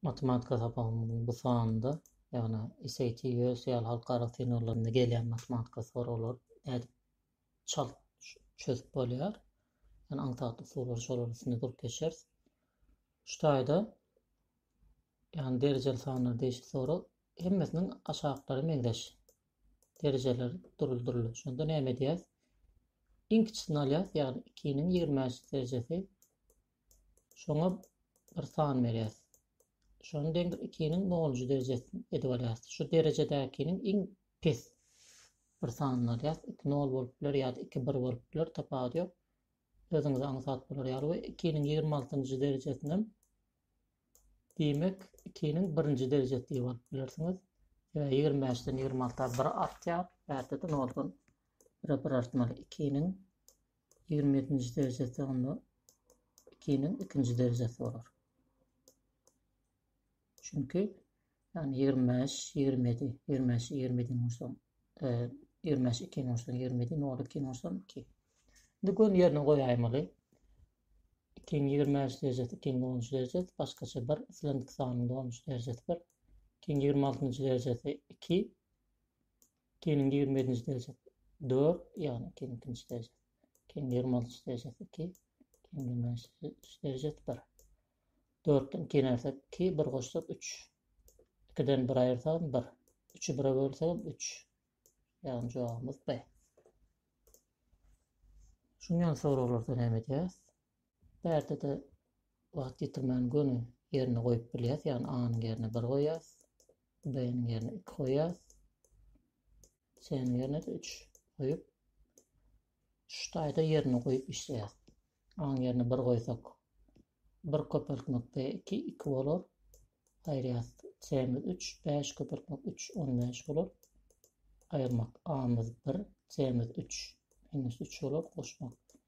Matematika sapagymyzyň bu sanynda, ýagny SAT, UES ýaly halkara synaglarynda gelýän matematika soraglar ädip çalt çözüp bolýar. Ýöne aňsat usullary şolar üstünde durup geçeris. Şu taýda ýagny derejeli sanlar degişli sorag hemmesiniň aşaklary meňzeş. Derejeler duruldyrylyp. Şonda näme edýäs? Iň kiçisini alýas, ýagny 2-niň 25 derejesi Şoňa bir san berýäs. Şony deň bir ikiniň nolunjy derejesini edip alýas. Şu derejedäkiniň iň pes bir sanyny alýas. Iki nol bolup biler ýa-da iki bir bolup biler, tapawudy ýok. Özüňize aňsat bolar ýaly we ikiniň ýigrimi altynjy derejesini hem diýmek ikiniň birinji derejesi diýip alyp bilersiňiz. Ýa ýigrimi bäşden ýigrimi alta bir artýar, bärde-de noldan bire bir artmaly. Ikiniň Ýigrimi ýedinji derejesi onda ikiniň ikinji derejesi bolar. Çünki ýagny ýigrimi bäş, ýigrimi ýedi, ýigrimi bäş, ýigrimi ýedi goşsaň, e, ýigrimi bäş ikini goşsaň ýigrimi ýedi, nol ikini goşsaň iki. Indi göni ýerine goýaýmaly. Ikiň ýigrimi bäş derejesi, ikiň onunjy derejesi başgaça bir, islendik sanyň onunjy derejesi bir. Ikiň ýigrimi altynjy derejesi iki, Keniň ýigrimi ýedinji derejesi dört, ýagny keniň ikinji derejesi. Keniň ýigrimi altynjy derejesi iki, keniň ýigrimi beşinji derejesi bir. Dörtden ikini aýyrsak iki, bir goşsak üç. Ikiden bir aýyrsagam bir. Üçi bire bölsegem üç. Ýagny jogabymyz B. Şuňa ýaly soraglarda näme edýäris? Bärde-de wagt ýitirmän göni ýerine goýup bilýäs, ýagny A-nyň ýerine bir goýýas, B-niň ýerine iki goýýas, C-niň ýerine-de üç goýup, şu taýda ýerine goýup işleýäs. A-nyň ýerine bir goýsak, bir köpeltmek B iki, iki bolar. Aýyrýas. C-miz üç, bäş köpeltmek üç, on bäş bolar. Aýyrmak A-myz bir, C-miz üç, minus üç bolar. Goşmak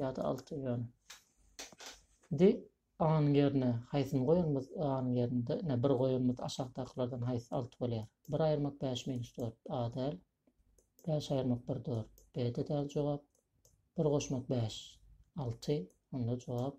Ýa-da alty ýön. Di A-nyň ýerine haýsyny goýanymyz, A-nyň ýerinde, ine, bir goýanymyz aşakdakylardan haýsy alty bolýar? Bir aýyrmak bäş minus dört, A däl. Bäş aýyrmak bir dört, B-de däl jogap. Bir goşmak bäş, alty. Onda jogap.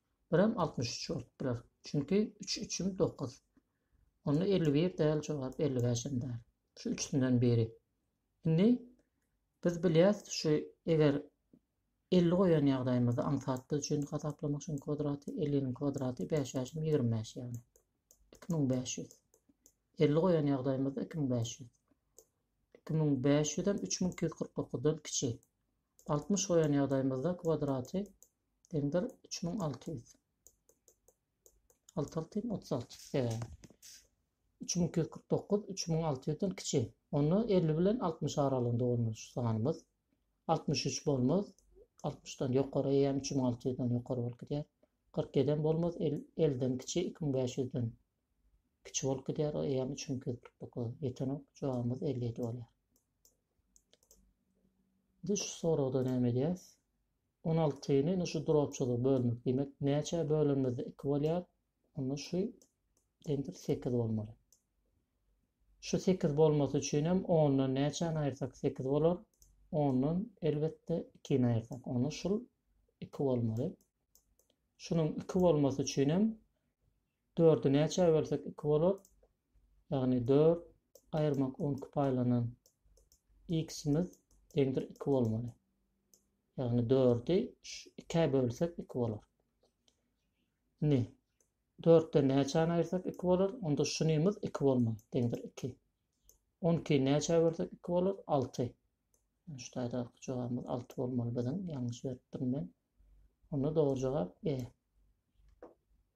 Birem altmyş üç bolup biler. Çünki üç üçüm dokuz. Onda elli bir däl jogap, elli bäş hem däl. Şu üçüsinden biri. Indi biz bilýäs, şu eger elli goýan ýagdaýymyzda aňsat biz üçin hasaplamak üçin kwadraty elliniň kwadraty bäş bäş hem ýigrimi bäş ýagny. Iki müň bäş ýüz. Elli goýan ýagdaýymyzda iki müň bäş ýüz. Iki müň bäş ýüz hem üç müň iki ýüz kyrk dokuzdan kiçi. Altmyş goýan ýagdaýymyzda kwadraty Deňdir üç müň alty ýüz. Alty altym otuz alty. Sebäbi. Üç müň iki ýüz kyrk dokuz üç müň alty ýüzden kiçi. Onda elli bilen altmyş aralygynda bolmaly şu sanymyz. Altmyş üç bolmaz. Altmyşdan ýokary eýýäm üç müň alty ýüzden ýokary bolup gidýär. Kyrk ýedem bolmaz. Elden kiçi iki müň bäş ýüzden kiçi bolup gidýär. O eýýäm üç müň iki ýüz kyrk dokuz. Ýetenok. Jogabymyz elli ýedi bolýar. Biz şu soragda näme edýäs? On altyny indi şu dropçada bölmek diýmek näçe bölenimizde iki bolýar? Onda şu deňdir sekiz bolmaly. Şu sekiz bolmasy üçin hem ondan näçäni aýyrsak sekiz bolar. Ondan elbetde ikini aýyrsak. Onda şul iki bolmaly. Şunuň iki bolmasy üçin hem Dördi näçä bölsek iki bolar? Ýagny dört aýyrmak on iki paýlanan x-imiz deňdir iki bolmaly. Ýagny dördi ikä bölsek iki bolar. Indi dörtden näçäni aýyrsak iki bolar? Onda şunymyz iki bolmaly, deňdir iki. On iki näçä bölsek iki bolar? Alty. Şu taýda jogabymyz alty bolmaly biziň, ýalňyş beripdirin men. Onda dogry jogap E.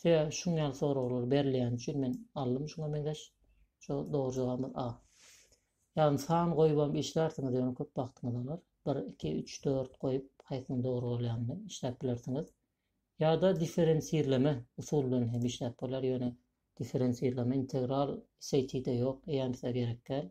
Sebäbi şuň ýaly soraglar berilýäni üçin men aldym şuňa meňzeş. Şu dogry jogabymyz A. Ýagny san goýubam işlärsiňiz ýöne köp wagtyňyzy alar. Bir, iki, üç, dört goýup haýsynyň dogry bolýanyny işläp bilersiňiz. Ýa-da differensirleme usuly bilen hem işläp bolýar ýöne differensirleme integral SAT-de ýok, EAMS-de gerek däl.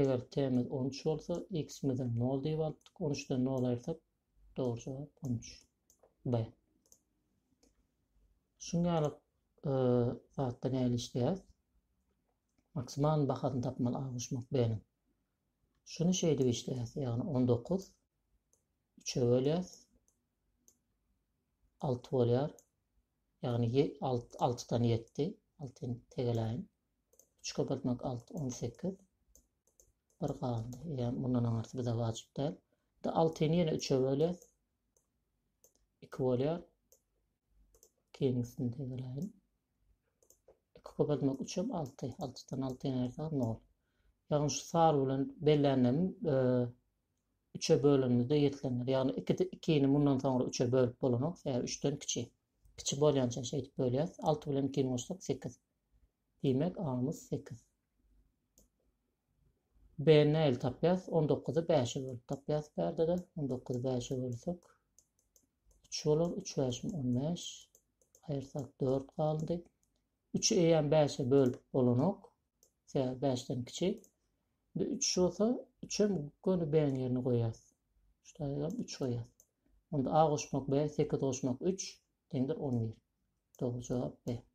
Eger t-miz on üç bolsa, x-mizem nol diýip alypdyk. On üçden nol aýyrsak, dogry jogap on üç. B. Şuň ýaly zatda näle işleýäs? Maksimal bahasyny tapmaly A goşmak B-niň. Şuny şeýdip işleýäs, ýagny on dokuz üçe bölýäs. Alty bolýar. Ýagny altydan ýetdi. Altyny tegeläýin. Üçge bölmek alty, on sekiz. Bir galdy. Eýýäm mundan aňyrsy bize wajyp däl. Indi altyny ýene üçe bölýär. Iki bolýar. Ikiniň üstünde beräýin. Iki köpeltmek üç hem alty. Altydan alty ýenerse nol. Ýagny şu sary bilen bellänem e, üçe bölünmede ýetlenir. Ýagny iki, ikini mundan soňra üçe bölüp bolanok. Sebäbi üçden kiçi. Kiçi bolýança şeýdip bölýäs. Altı bilen ikini goşsak sekiz. Diýmek, A-myz sekiz. B-ni nähili tapýas? On dokuzy bäşe bölüp tapýas bu ýerde-de. On dokuzy bäşe bölsek, üç bolar. Üç bäşim on bäş. Aýyrsak, dört galdy. Üçi eýýäm bäşe bölüp bolanok. Sebäbi bäşden kiçi. Indi üç bolsa, üçem göni B-niň ýerine goýýas. Şu taýdam üç goýýas. Onda A goşmak B, sekiz goşmak üç, deňdir on bir. Dogry jogap B.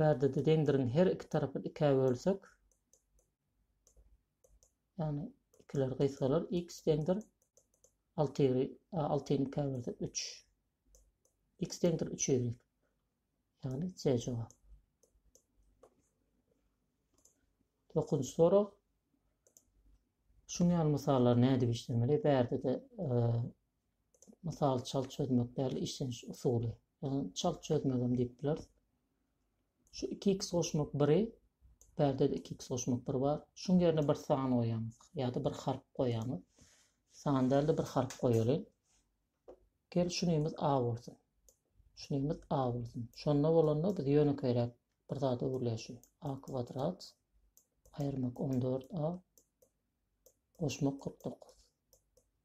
Bärde-de deňdiriň her iki tarapyn ikä bölsek, ýagny ikiler gysgalar, x deňdir alty y, altyny ikä bölsek üç, x deňdir üç y, ýagny C jogap. Dokuzynjy sorag. Şuň ýaly mysallar nädip işlemeli? Bärde-de e, Mysal çalt çözmek däl işleniş usuly. Ýagny çalt çözmegem diýip bileris. Şu 2x goşmak 1-i bärde-de 2x goşmak 1 bar. Şuň ýerine bir san goýýaňyz ýa-da bir harp goýýaňyz. San däl-de bir harp goýaly. Gel şunymyz a bolsun. Şunymyz a bolsun. Şonda bolanda biz ýönekeýräk bir zat öwrüläýşi. a kwadrat aýyrmak 14a goşmak 49.